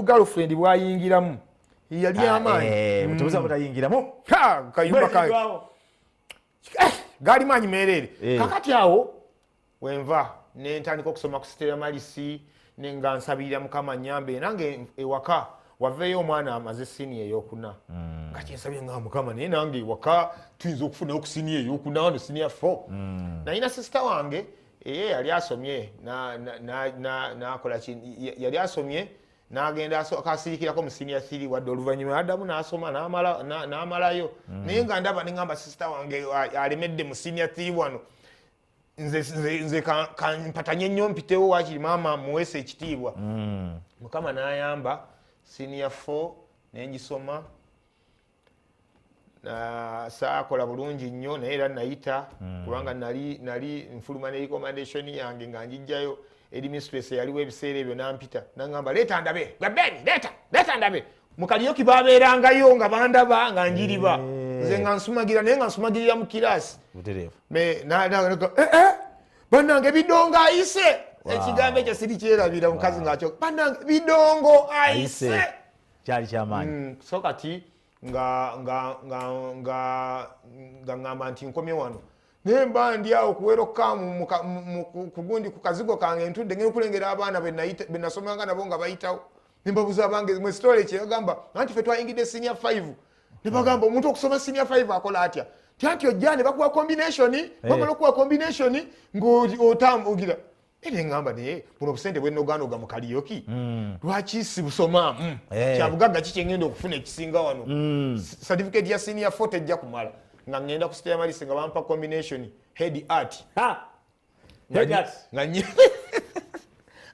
girlfriend bwayingiramu yali ah, amaanyi eh, mutubuza hmm. butayingiramu kayumba ka eh, gaali maanyi meereere eh. kakati awo wenva nentandika okusoma ku sitera malisi nenga nsabirira mukama nyambe nange ewaka waveeyo omwana amaze sini eyokuna hmm. nga kyensabye nga mukama naye nange ewaka tuyinza okufunayo ku sini eyokuna no sini ya fo hmm. nayina sisita wange eye yali asomye nakola yali asomye nagenda akasirikirako mu siniya thiri wadde oluvannyuma adamu nasoma namalayo mm. naye nga ndaba nengamba sisita wange alemedde mu siniya thiri wano nze kampatanye nnyo mpitewo wakiri maama muweesa ekitiibwa mm. mukama nayamba siniya fo nengisoma saakola bulungi nnyo naye era nayita hmm. kubanga nali nali nfuluma ne recommendation yange nga njijjayo eri mistress yaliwo ebiseera ebyo nampita nangamba leeta ndabe gabeni leeta leeta ndabe mukaliyoki babeerangayo nga bandaba nga njiriba hmm. nze nga nsumagira naye nga nsumagirira mu kiraasi eh, eh, banange bidongo ayise ekigambo ekyo sirikyerabira mukazi ngakyo banange bidongo ayise kyali kyamaanyi mm, so kati nga nga nga nga nga ngamba nti nkomye wano naye mba ndi awo kuwera okukaamu kugundi ku kazigo kange ntudde ngenda okulengera abaana benasomanga nabo nga bayitawo nembabuza abange mwesitole kyeyagamba anti fe twayingidde sinia 5 nebagamba hmm. omuntu okusoma sinia 5 akola atya tianti ojja ne bakuwa combination eh. bamala okuwa combination ngaotamugira Ede ngamba naye buno obusente bwenoganoga mu kaliyoki mm. lwaki sibusomaamu mm. Eh. kyabugagga ki kyengenda okufuna ekisinga wano mm. certificate ya senior fort ejja kumala nga ngenda ku state malisi nga bampa combination head art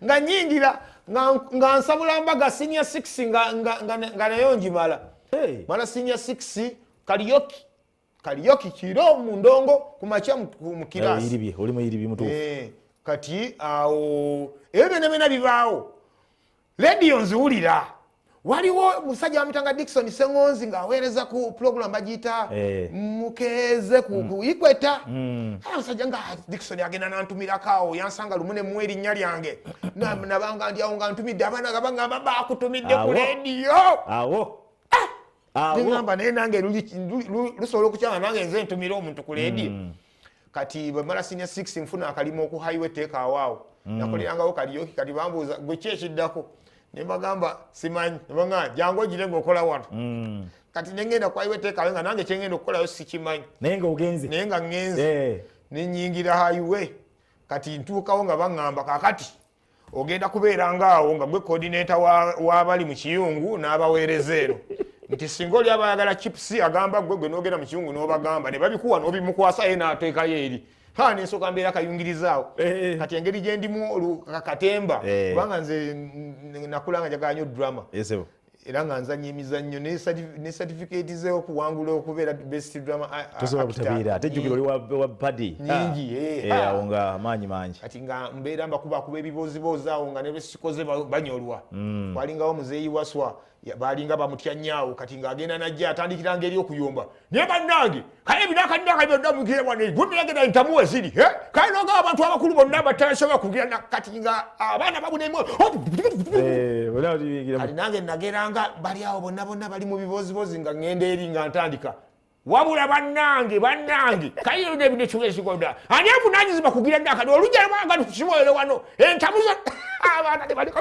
nga nyingira nga nsabula mbaga senior 6 nga nayo njimala mala senior 6 kaliyoki kaliyoki kiro mu ndongo ku makya mu kiraasi oli muyiribi mutuufu eh, kati awo ebyo byona byona bibaawo lediyo nziwulira waliwo musajja wamitanga dikson sengonzi ngaaweereza ku pulogulamu bagiyita eh. mukeeze ku mm. ikweta mm. ah, musajja nga ah, dikson agenda nantumirakawo yansanga lumu nemu erinnya lyange nabanga ndyawo nga ntumidde abaana gabangamba bakutumidde ku lediyo neŋamba naye nange lusobola okukyanga nange nze ntumira omuntu ku leediyo mm. kati bwemala sinia six nfuna akalima oku highway teekawaawo mm. nakolerangawo kaliyoki kati bambuuza gwe ki ekiddako nembagamba simanyi nebaa jangu ogire ngaokola wano mm. kati nengenda ku highway teekawe nga nange kyengenda okukolayo sikimanyi naye nga ogenze naye nga ngenze eh. nenyingira highway kati ntuukawo nga baŋamba kakati ogenda kubeera ngaawo nga gwe kodineta wabali mu kiyungu n'abaweereza eno nti singa oli abayagala chips agamba gwe gwe nogenda mu kiyungu n'obagamba ne babikuwa n'obimukwasa ye n'ateekayo eri ha nensoka mbeera kayungirizaawo eh, eh. kati engeri gyendimu katemba eh. kubanga nze nakulanga njagala nyo drama era nga nzanya emizannyo ne satifikeeti ze okuwangula okubeera best drama tosobola butabeera ate jjukira oli wa padi nyingi ah. eh, eh, awo nga amaanyi mangi kati nga mbeera mbakubakuba ebibooziboozi awo nga nebesikoze banyolwa hmm. kwalingawo muzeeyi waswa baalinga bamutya nyaawo kati ng'agenda najja atandikiranga eri okuyomba naye bannange kale ebinakadinaka byonna mugira wano gumiragera entamu weziri kale noga abantu abakulu bonna abatasobola kugira nakati nga abaana babunemu kati nange nageranga bali awo bonna bonna bali mu bibozibozi nga ŋenda eri nga ntandika wabula bannange bannange kayiro nebino kiwezigoda ani avunanyizibwa kugira nakati olujja lwanga ntukisobolere wano entamu abaana tebaliko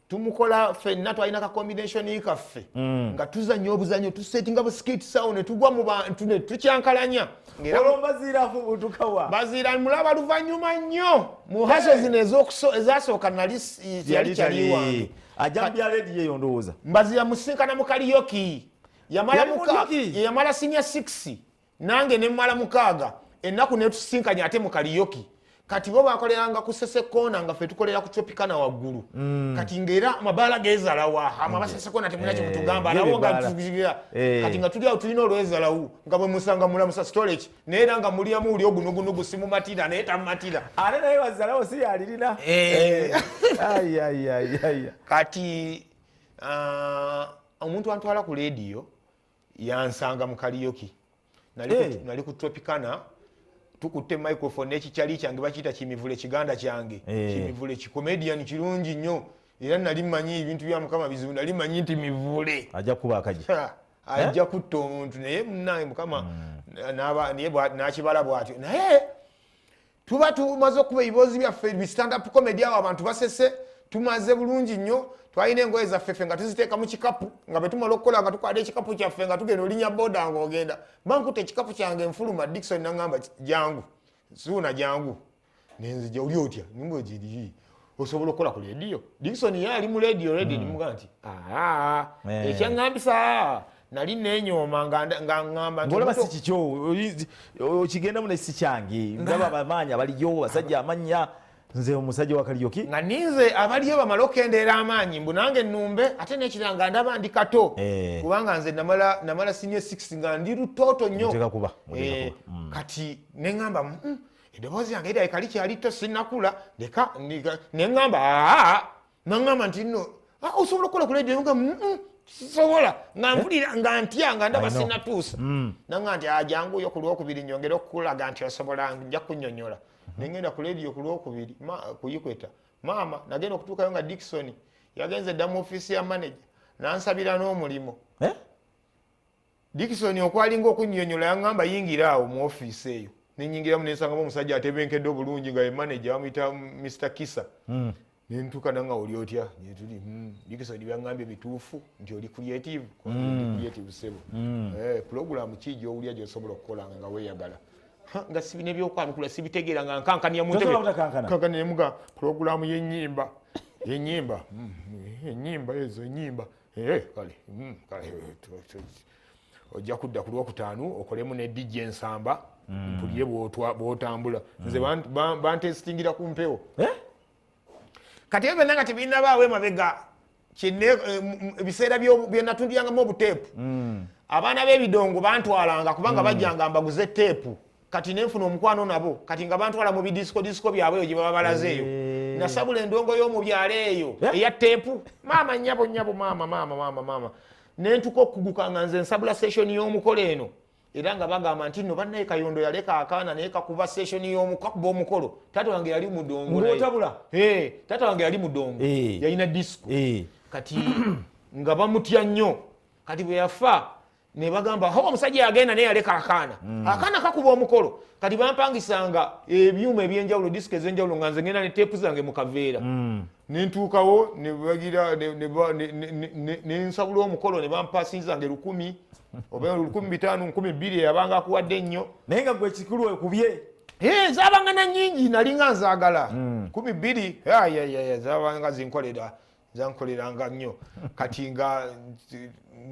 tumukola fenna twalina ka combination kaffe mm. nga tuzanya obuzanyo tusetinga buskit sawo netugwa mu bantu netukyankalanya baziira mulaba luvanyuma nnyo mu haso zino ezasooka nali yali kyali wange mbaziira musinkana mukaliyoki yamala sinya 6 nange nemmala mukaaga ennaku netusisinkanya ate mu kaliyoki kati bo bakoleranga ku sesekoona nga fe tukolera ku tropicana waggulu mm. kati ngaera amabaala gezalawa ama mm. basesekoona temulina kyemutugamba eh, alawo nga tugira eh. kati nga tuli awo tulina olwezalawu nga bwe musanga mulamusa storage naye era nga mulyamu uli ogunugunugu simumatira naye tamumatira ate naye wazalawo si yalirina eh. kati ah, omuntu antwala ku lediyo yansanga mu kaliyoki nali eh. ku tropicana tukutte microphone nekikyali kyange bakiyita kimivule kiganda kyange eh. kimivule kikomedian kirungi nnyo era nali manyi ebintu bya mukama bizibu nali manyi nti mivule ajja kuba akaji ajja eh? kutta omuntu naye munange mukama hmm. naye nakibala bwatyo naye tuba tumaze okuba ebiboozi byaffe bistandup comedy awo abantu basese tumaze bulungi nnyo twalina engoye zaffefe nga tuziteeka mu kikapu nga bwetumala okukola nga tukwata ekikapu kyaffe nga tugenda olinya boda nga ogenda bankuta ekikapu kyange enfuluma dikson nagamba jangu zuuna jangu nenzija oli otya nimba ogiriyi osobola okukola ku lediyo dikson ye ali mu lediyo redi hmm. nimuga nti eh. ekyaŋambisa nali nenyooma ngaŋambangolaba si kikyo okigendamu naye si kyange ndaba abamaanyi abaliyo basajja amanya nze omusajja wakaliyoki nga ninze abaliyo bamala okendeera amaanyi mbu nange numbe ate nekira nga ndaba ndi kato eh. kubanga nze namala sinia 6 nga ndi lutoto nnyo eh, hmm. kati neŋamba mm, mm. eddoboozi yange erabika likyali to sinakula leka neŋamba aa naŋamba nti no osobola okukola kuledio nga sobola nga eh? mpulira nga ntya nga ndaba sinatuusa mm. naŋa nti ajangu yo ku lwokubiri nyongere okukulaga nti osobola nja kunyonyola mm-hmm. nengenda ku ledio ku lwokubiri kuyikweta maama nagenda okutuukayo nga dikisoni yagenze dda mu ofiisi ya manaja nansabira n'omulimu eh? Dickson okwalinga okunyonyola yangamba yingira awo mu office eyo nenyingiramu nensangamo omusajja atebenkedde obulungi nga ye manager bamuyita Mr Kisa mm. nentuka nanga oli otya netuli mm. Dickson byangambye bituufu nti oli creative mm. creative sebo mm. eh, program ki gyowulya gyosobola okukola nga weyagala nga sibina ebyokwanukula sibitegeera nga nkankania muntebekankanira nemuga pulogulaamu yenyimba yenyimba mm, enyimba ezo enyimba Eh, kale mm, eh, ojja kudda ku lwokutaano okolemu ne dj ensamba mm. mpulire bwotambula mm. nze bantesitingira ku mpewo eh? kati ebyo nanga tebinabaawo emabega ebiseera byenatundyangamu obuteepu abaana b'ebidongo bantwalanga kubanga bajjanga mbaguze teepu kati nenfuna omukwano nabo kati nga bantwala mu bidisiko disiko byabwe eyo gyebaba balaze eyo eh. nasabula endongo yomubyalo eyo eh? eya tepu maama nyabo nyabo maama maama maama maama nentuka okuguka nga nze nsabula session yomukola eno era nga bagamba nti no banaye kayondo yaleka akaana naye kakuba session yomukakuba omukolo tata wange yali mudongotabula eh, tata wange yali mudongo yalina disiko kati nga bamutya nnyo kati bwe yafa nebagamba ho omusajja yagenda naye yaleka akaana mm. akaana kakuba omukolo kati bampangisanga ebyuma ebyenjawulo disika ezenjawulo nga nze ngenda ne teepu zange mu kaveera mm. nentuukawo nebagira nensabula omukolo ne bampasinzange lukumi oba lukumi bitaano nkumi bbiri eyabanga akuwadde ennyo naye nga gwe kikulu ekubye eh, zabanga na nyingi nalinga nzagala mm. kumi bbiri zabanga zinkolera zankoleranga nnyo kati nga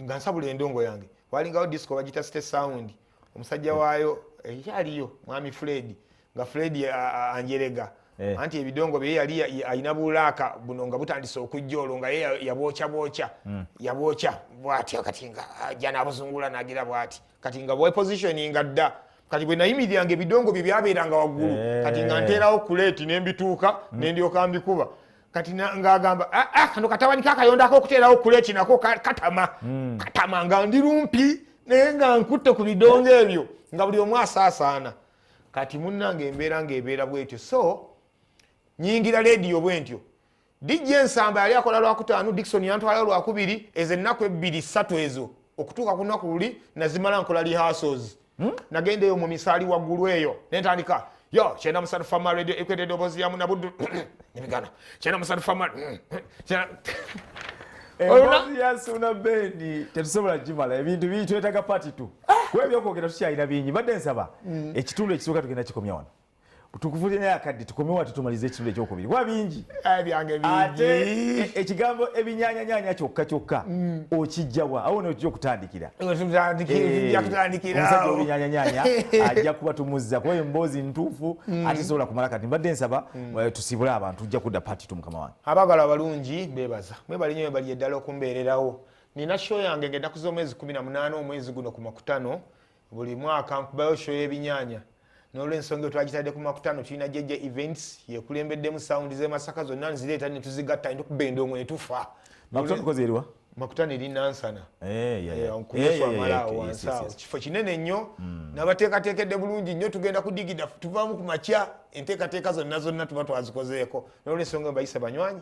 nga nsabula endongo yange walingawo disco bagita state sound omusajja waayo ekyaliyo eh, mwami fred nga fred anjerega eh. anti ebidongo bye yali alina bulaaka buno nga butandise okujja olwo nga ye yabwokya bwokya hmm. yabwokya bwatyo kati nga ajja ah, nabuzungula nagira bwati kati nga bwepositioninga dda kati bwe nayimiriranga ebidongo bye byabeeranga waggulu eh. kati nga nteerawo kuleeti nembituuka hmm. nendyoka mbikuba kati ngagamba ah, ah, kano katabani kakayondako okuteerawo kula ekinako katama hmm. katama nga ndi lumpi naye nga nkutte ku bidongo ebyo nga buli omu asaasaana kati munnanga embeera ngaebeera bwetyo so nyingira lediyo bwentyo dijja ensamba yali akola lwakutaano dikson yantwala lwakubiri ezo ennaku ebbiri ssatu ezo okutuuka ku lunaku luli nazimala nkola rehearsals Hmm? nagenda eyo mu misaali waggulu eyo nentandika yo kyenda musatu fama radio ekwete edoboozi yamu nabuddu nebigana kyenda musatu fama yasuna bendi tetusobola gimala ebintu bingi twetaga pati tu ah! kwebyokwogera tukyalina bingi mbadde nsaba hmm. ekitundu ekisooka tugenda kikomya wano tukufulire naye akadde tukomewo ate tumalize ekitundu ekyokubiri kuba bingi ate e, ekigambo ebinyanyanyanya kyokka kyokka mm. okijjawa awo nokija okutandikira eh, omusajja obinyanyanyanya ajja kuba tumuzza kuba emboozi ntuufu mm. ate sobola kumala kati mbadde nsaba mm. eh, tusibule abantu ojja kudda pati tu mukama wange abagala abalungi bebaza mwebali nyo webali eddala okumbeererawo nina sho yange ngenda kuza omwezi kumi na munaana omwezi guno ku makutano buli mwaka nkubayo sho y'ebinyanya nolwensonga twagitadde ku makutano tulina jeje events yekulembeddemu sawundi zemasaka zonna nzireeta netuzigatta nina okuba endongo netufa makutano eri nansana eh, eh, eh, nkumuswamalawo wansaawo kifo kinene nnyo hmm. nabateekateekedde bulungi nnyo tugenda kudigida tuvaamu ku makya enteekateeka zonna zonna tuba twazikozeeko nolwensonga mbayisa banywanyi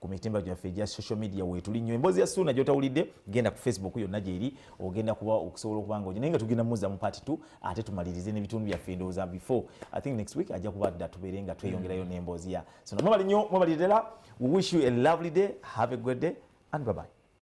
ku mitimba gyaffe egya social media weetuli nnyo emboozi ya suuna gyotawulidde genda ku facebook yonna gyeri ogenda kuba okusobola okuba nga naye nga tugenda muzza mu part t ate tumalirize n'ebitundu byaffe endowooza before i think next week ajja kuba dda tubeere nga tweyongerayo n'emboozi ya suuna mwebali nnyo mwebali ddala we wish you a lovely day have a good day and bye bye